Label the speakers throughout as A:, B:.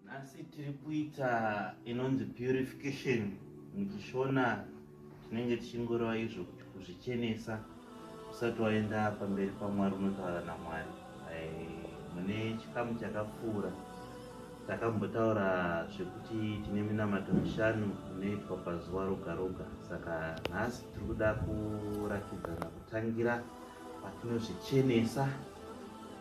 A: Nhasi tiri kuita inonzi purification muchishona tinenge tichingoreva izvo kuti kuzvichenesa usati waenda pamberi pamwari unotaura namwari eh, mune chikamu chakapfuura takambotaura zvekuti tine minamato mishanu inoitwa pazuva roga roga saka nhasi tiri kuda kuratidzana kutangira patinozvichenesa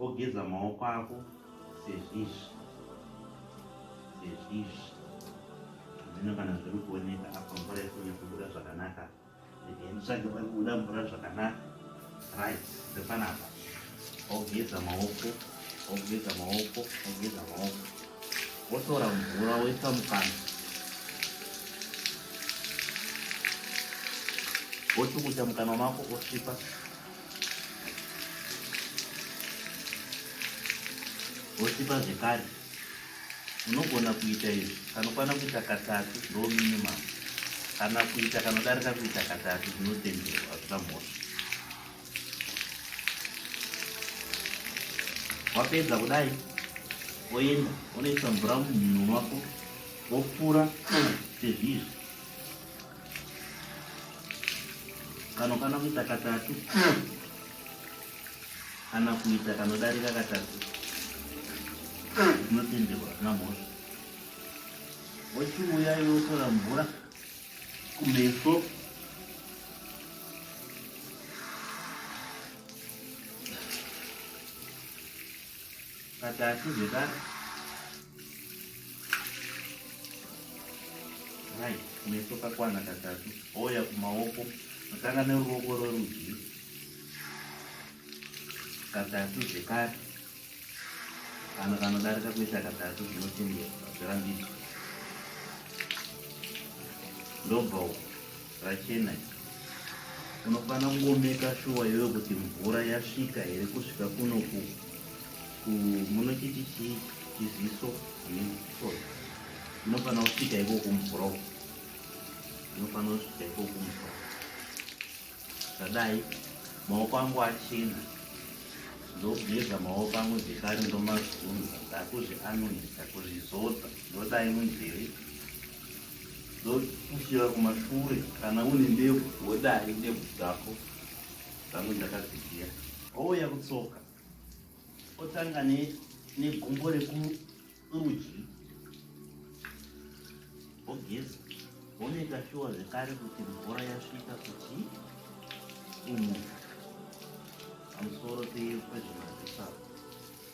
A: ogeza maoko ako sezvizvi sezvizvi zvino kana zviri kuoneka apa mvura ikunya kubuda zvakanaka nditsvage pari kubuda mvura zvakanaka right ndepanapa ogeza maoko ogeza maoko ogeza maoko wotora mvura woisa mukana wochukucha mukana mako osvipa wochipa zvekare unogona kuita izvi kanokwana kuita katatu ndo minimum kana kuita kanodarika kuita katatu zvinotenderwa hazvina mhosva wapedza kudai woenda unoisa mvura mumhino wako wopfura sezvizvi kano kana kuita katatu kana kuita kanodarika katatu zvinotenderwa hazvina mhosva wochiuya iwe wotora mvura kumeso katatu zvekare Hai, meso kakwana katatu ouya kumaoko kutanga neruoko rwerudyi katatu zvekare kana kanodarika kuita katatu zvinotendera zvirambidzwa ndobva uku Rachena unofanira kungomeka shuwa iwewe kuti mvura yasvika here kusvika kuno ku munochiti chii chiziso nesoy unofanira kusvika iko kumvura uku unofanira kusvika iko kumvura zvadai maoko angu achena ndogeza maoko angu zvekare ndomazunza ndakuzvianonisa kuzvizodza ndodai munzeve ndokushira kumashure kana une ndebvu wodai ndebvu dzako dzange ndakadziziya ouya kutsoka otanga negumbo rekurudyi ogeza onoita shuwa zvekare kuti mvura yasvika kuti umu pamusoro pezvemazisaa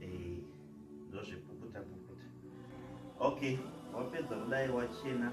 A: eh, ndozvipukuta pukuta okay wapedza kudai wachena